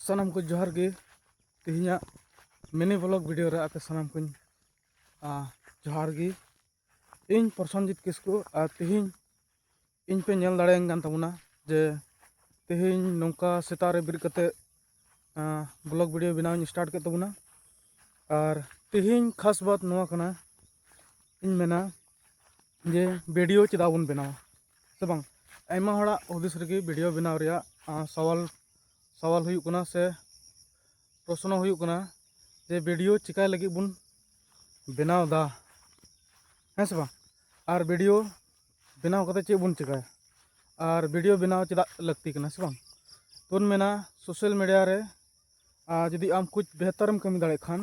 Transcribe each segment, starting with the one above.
ᱥᱟᱱᱟᱢ ᱠᱚ ᱡᱚᱦᱟᱨ ᱜᱮ ᱛᱮᱦᱮᱧᱟᱜ ᱢᱤᱱᱤ ᱵᱞᱚᱜ ᱵᱷᱤᱰᱤᱭᱳ ᱨᱮ ᱟᱯᱮ ᱥᱟᱱᱟᱢ ᱠᱚᱧ ᱡᱚᱦᱟᱨ ᱜᱮ ᱤᱧ ᱯᱨᱚᱥᱚᱱᱡᱤᱛ ᱠᱤᱥᱠᱩ ᱟᱨ ᱛᱮᱦᱮᱧ ᱤᱧ ᱯᱮ ᱧᱮᱞ ᱫᱟᱲᱮᱭᱟᱹᱧ ᱠᱟᱱ ᱛᱟᱵᱚᱱᱟ ᱡᱮ ᱛᱮᱦᱮᱧ ᱱᱚᱝᱠᱟ ᱥᱮᱛᱟᱜ ᱨᱮ ᱵᱮᱨᱮᱫ ᱠᱟᱛᱮ ᱵᱞᱚᱜ ᱵᱷᱤᱰᱤᱭᱳ ᱵᱮᱱᱟᱣᱤᱧ ᱥᱴᱟᱨᱴ ᱠᱮᱫ ᱛᱟᱵᱚᱱᱟ ᱟᱨ ᱛᱮᱦᱮᱧ ᱠᱷᱟᱥ ᱵᱟᱛ ᱱᱚᱣᱟ ᱠᱟᱱᱟ ᱤᱧ ᱢᱮᱱᱟ ᱡᱮ ᱵᱷᱤᱰᱤᱭᱳ ᱪᱮᱫᱟᱜ ᱵᱚᱱ ᱵᱮᱱᱟᱣᱟ ᱥᱮ ᱵᱟᱝ ᱟᱭᱢᱟ ᱦᱚᱲᱟᱜ ᱦᱩᱫᱤᱥ ᱨᱮᱜᱮ ᱵᱷᱤᱰᱤᱭᱳ ᱵᱮᱱᱟᱣ ᱨᱮᱭᱟᱜ ᱥᱟᱣᱟᱞ ᱥᱟᱣᱟᱞ ᱦᱩᱭᱩᱜ ᱠᱟᱱᱟ ᱥᱮ ᱯᱨᱚᱥᱱᱚ ᱦᱩᱭᱩᱜ ᱠᱟᱱᱟ ᱡᱮ ᱵᱷᱤᱰᱤᱭᱳ ᱪᱤᱠᱟᱹᱭ ᱞᱟᱹᱜᱤᱫ ᱵᱚᱱ ᱵᱮᱱᱟᱣᱫᱟ ᱦᱮᱸ ᱥᱮ ᱵᱟᱝ ᱟᱨ ᱵᱷᱤᱰᱤᱭᱳ ᱵᱮᱱᱟᱣ ᱠᱟᱛᱮ ᱪᱮᱫ ᱵᱚᱱ ᱪᱤᱠᱟᱹᱭᱟ ᱟᱨ ᱵᱷᱤᱰᱤᱭᱳ ᱵᱮᱱᱟᱣ ᱪᱮᱫᱟᱜ ᱞᱟᱹᱠᱛᱤ ᱠᱟᱱᱟ ᱥᱮ ᱵᱟᱝ ᱛᱚᱧ ᱢᱮᱱᱟ ᱥᱳᱥᱟᱞ ᱢᱤᱰᱤᱭᱟ ᱨᱮ ᱡᱩᱫᱤ ᱟᱢ ᱠᱩᱪ ᱵᱮᱦᱛᱟᱨᱮᱢ ᱠᱟᱹᱢᱤ ᱫᱟᱲᱮᱭᱟᱜ ᱠᱷᱟᱱ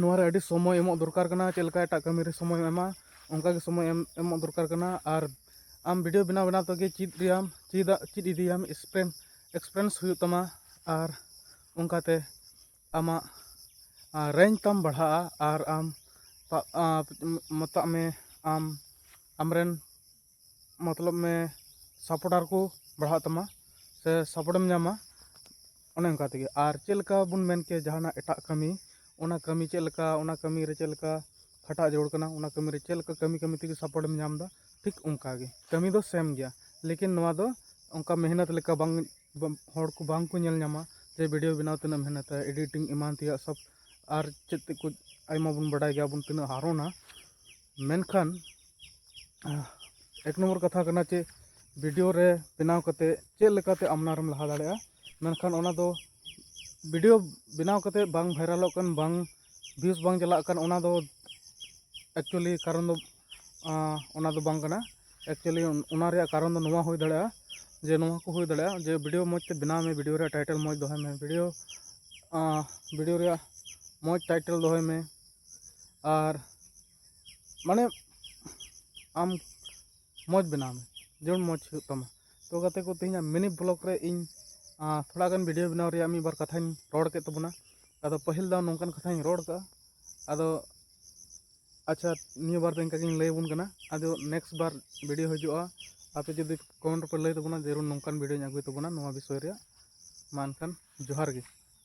ᱱᱚᱣᱟ ᱨᱮ ᱟᱹᱰᱤ ᱥᱚᱢᱚᱭ ᱮᱢᱚᱜ ᱫᱚᱨᱠᱟᱨ ᱠᱟᱱᱟ ᱪᱮᱫ ᱞᱮᱠᱟ ᱮᱴᱟᱜ ᱠᱟᱹᱢᱤ ᱨᱮ ᱥᱚᱢᱚᱭ ᱮᱢᱟ ᱚᱱᱠᱟ ᱜᱮ ᱥᱚᱢᱚᱭ ᱮᱢ ᱮᱢᱚᱜ ᱫᱚᱨᱠᱟᱨ ᱠᱟᱱᱟ ᱟᱨ ᱟᱢ ᱵᱷᱤᱰᱤᱭᱳ ᱵᱮᱱᱟᱣ ᱵᱮᱱᱟᱣ ᱛᱮᱜᱮ ᱪᱮᱫ ᱨᱮᱭᱟᱜ ᱪᱮᱫᱟᱜ ᱪᱮᱫ ᱤᱫᱤᱭᱟᱢ ᱮᱠᱥᱯᱨᱮᱱ ᱮᱠᱥᱯᱨᱮᱱᱥ ᱦᱩᱭᱩᱜ ᱛᱟᱢᱟ ᱟᱨ ᱚᱱᱠᱟᱛᱮ ᱟᱢᱟᱜ ᱨᱮᱧᱡᱽ ᱛᱟᱢ ᱵᱟᱲᱦᱟᱜᱼᱟ ᱟᱨ ᱟᱢ ᱢᱮᱛᱟᱜ ᱢᱮ ᱟᱢ ᱟᱢ ᱨᱮᱱ ᱢᱚᱛᱞᱚᱵ ᱢᱮ ᱥᱟᱯᱚᱴᱟᱨ ᱠᱚ ᱵᱟᱲᱦᱟᱜ ᱛᱟᱢᱟ ᱥᱮ ᱥᱟᱯᱚᱴᱮᱢ ᱧᱟᱢᱟ ᱚᱱᱮ ᱚᱱᱠᱟ ᱛᱮᱜᱮ ᱟᱨ ᱪᱮᱫ ᱞᱮᱠᱟ ᱵᱚᱱ ᱢᱮᱱ ᱠᱮᱭᱟ ᱡᱟᱦᱟᱱᱟᱜ ᱮᱴᱟᱜ ᱠᱟᱹᱢᱤ ᱚᱱᱟ ᱠᱟᱹᱢᱤ ᱪᱮᱫ ᱞᱮᱠᱟ ᱚᱱᱟ ᱠᱟᱹᱢᱤ ᱨᱮ ᱪᱮᱫ ᱞᱮᱠᱟ ᱠᱷᱟᱴᱟᱜ ᱡᱟᱹᱨᱩᱲ ᱠᱟᱱᱟ ᱚᱱᱟ ᱠᱟᱹᱢᱤ ᱨᱮ ᱪᱮᱫ ᱞᱮᱠᱟ ᱠᱟᱹᱢᱤ ᱠᱟᱹᱢᱤ ᱛᱮᱜᱮ ᱥᱟᱯᱚᱴᱮᱢ ᱧᱟᱢ ᱮᱫᱟ ᱴᱷᱤᱠ ᱚᱱᱠᱟ ᱜᱮ ᱠᱟᱹᱢᱤ ᱫᱚ ᱥᱮᱢ ᱜᱮᱭᱟ ᱞᱮᱠᱤᱱ ᱱᱚᱣᱟ ᱫᱚ ᱚᱱᱠᱟ ᱢᱮᱦᱱᱚᱛ ᱞᱮᱠᱟ ᱵᱟᱝ ᱦᱚᱲ ᱠᱚ ᱵᱟᱝ ᱠᱚ ᱧᱮᱞ ᱧᱟᱢᱟ ᱡᱮ ᱵᱷᱤᱰᱤᱭᱳ ᱵᱮᱱᱟᱣ ᱛᱤᱱᱟᱹᱜ ᱢᱮᱦᱱᱚᱛᱟ ᱮᱰᱤᱴᱤᱝ ᱮᱢᱟᱱ ᱛᱮᱭᱟᱜ ᱥᱚᱵ ᱟᱨ ᱪᱮᱫ ᱛᱮᱫ ᱠᱚ ᱟᱭᱢᱟ ᱵᱚᱱ ᱵᱟᱰᱟᱭ ᱜᱮᱭᱟ ᱵᱚᱱ ᱛᱤᱱᱟᱹᱜ ᱦᱟᱨᱚᱱᱟ ᱢᱮᱱᱠᱷᱟᱱ ᱮᱠ ᱱᱚᱢᱵᱚᱨ ᱠᱟᱛᱷᱟ ᱠᱟᱱᱟ ᱪᱮ ᱵᱷᱤᱰᱤᱭᱳ ᱨᱮ ᱵᱮᱱᱟᱣ ᱠᱟᱛᱮ ᱪᱮᱫ ᱞᱮᱠᱟᱛᱮ ᱟᱢᱱᱟᱨᱮᱢ ᱞᱟᱦᱟ ᱫᱟᱲᱮᱭᱟᱜᱼᱟ ᱢᱮᱱᱠᱷᱟᱱ ᱚᱱᱟ ᱫᱚ ᱵᱷᱤᱰᱤᱭᱳ ᱵᱮᱱᱟᱣ ᱠᱟᱛᱮ ᱵᱟᱝ ᱵᱷᱟᱭᱨᱟᱞᱚᱜ ᱠᱟᱱ ᱵᱟᱝ ᱵᱷᱤᱭᱩᱥ ᱵᱟᱝ ᱪᱟᱞᱟᱜ ᱠᱟᱱ ᱚᱱᱟ ᱫᱚ ᱮᱠᱪᱩᱭᱮᱞᱤ ᱠᱟᱨᱚᱱ ᱫᱚ ᱚᱱᱟ ᱫᱚ ᱵᱟᱝ ᱠᱟᱱᱟ ᱮᱠᱪᱩᱭᱮᱞᱤ ᱚᱱᱟ ᱨᱮᱭᱟᱜ ᱠᱟᱨᱚᱱ ᱫᱚ ᱱᱚᱣᱟ ᱦᱩᱭ ᱫᱟᱲᱮᱭᱟᱜᱼᱟ ᱡᱮ ᱱᱚᱣᱟ ᱠᱚ ᱦᱩᱭ ᱫᱟᱲᱮᱭᱟᱜᱼᱟ ᱡᱮ ᱵᱷᱤᱰᱤᱭᱳ ᱢᱚᱡᱽ ᱛᱮ ᱵᱮᱱᱟᱣ ᱢᱮ ᱵᱷᱤᱰᱤᱭᱳ ᱨᱮᱭᱟᱜ ᱴᱟᱭᱴᱮᱞ ᱢᱚᱡᱽ ᱫᱚᱦᱚᱭ ᱢᱮ ᱵᱷᱤᱰᱤᱭᱳ ᱵᱷᱤᱰᱤᱭᱳ ᱨᱮᱭᱟᱜ ᱢᱚᱡᱽ ᱴᱟᱭᱴᱮᱞ ᱫᱚᱦᱚᱭ ᱢᱮ ᱟᱨ ᱢᱟᱱᱮ ᱟᱢ ᱢᱚᱡᱽ ᱵᱮᱱᱟᱣ ᱢᱮ ᱡᱮᱢᱚᱱ ᱢᱚᱡᱽ ᱦᱩᱭᱩᱜ ᱛᱟᱢᱟ ᱛᱚ ᱜᱟᱛᱮ ᱠᱚ ᱛᱮᱦᱮᱧᱟᱜ ᱢᱤᱱᱤ ᱵᱞᱚᱜᱽ ᱨᱮ ᱤᱧ ᱛᱷᱚᱲᱟ ᱜᱟᱱ ᱵᱷᱤᱰᱤᱭᱳ ᱵᱮᱱᱟᱣ ᱨᱮᱭᱟᱜ ᱢᱤᱫ ᱵᱟᱨ ᱠᱟᱛᱷᱟᱧ ᱨᱚᱲ ᱠᱮᱫ ᱛᱟᱵᱚᱱᱟ ᱟᱫᱚ ᱯᱟᱹᱦᱤᱞ ᱫᱚ ᱱᱚᱝᱠᱟᱱ ᱠᱟᱛᱷᱟᱧ ᱨᱚᱲ ᱠᱟᱜᱼᱟ ᱟᱫᱚ ᱟᱪᱪᱷᱟ ᱱᱤᱭᱟᱹ ᱵᱟᱨ ᱫᱚ ᱤᱱᱠᱟ ᱜᱤᱧ ᱞᱟᱹᱭ ᱟᱵᱚᱱ ᱠᱟᱱᱟ ᱟᱫᱚ ᱱᱮᱠᱥᱴ ᱵᱟᱨ ᱵᱷᱤᱰᱤᱭᱳ ᱦᱤᱡᱩᱜᱼᱟ ᱟᱯᱮ ᱡᱩᱫᱤ ᱠᱚᱢᱮᱱᱴ ᱨᱮᱯᱮ ᱞᱟᱹᱭ ᱛᱟᱵᱚᱱᱟ ᱡᱟᱹᱨᱩᱲ ᱱᱚᱝᱠᱟᱱ ᱵᱷᱤᱰᱤᱭᱳᱧ ᱟᱹᱜᱩᱭ ᱛᱟᱵᱚᱱᱟ ᱱᱚᱣᱟ ᱵᱤᱥᱚᱭ ᱨᱮᱭᱟᱜ ᱢᱟ ᱮᱱᱠᱷᱟᱱ ᱡᱚᱦᱟᱨ ᱜᱮ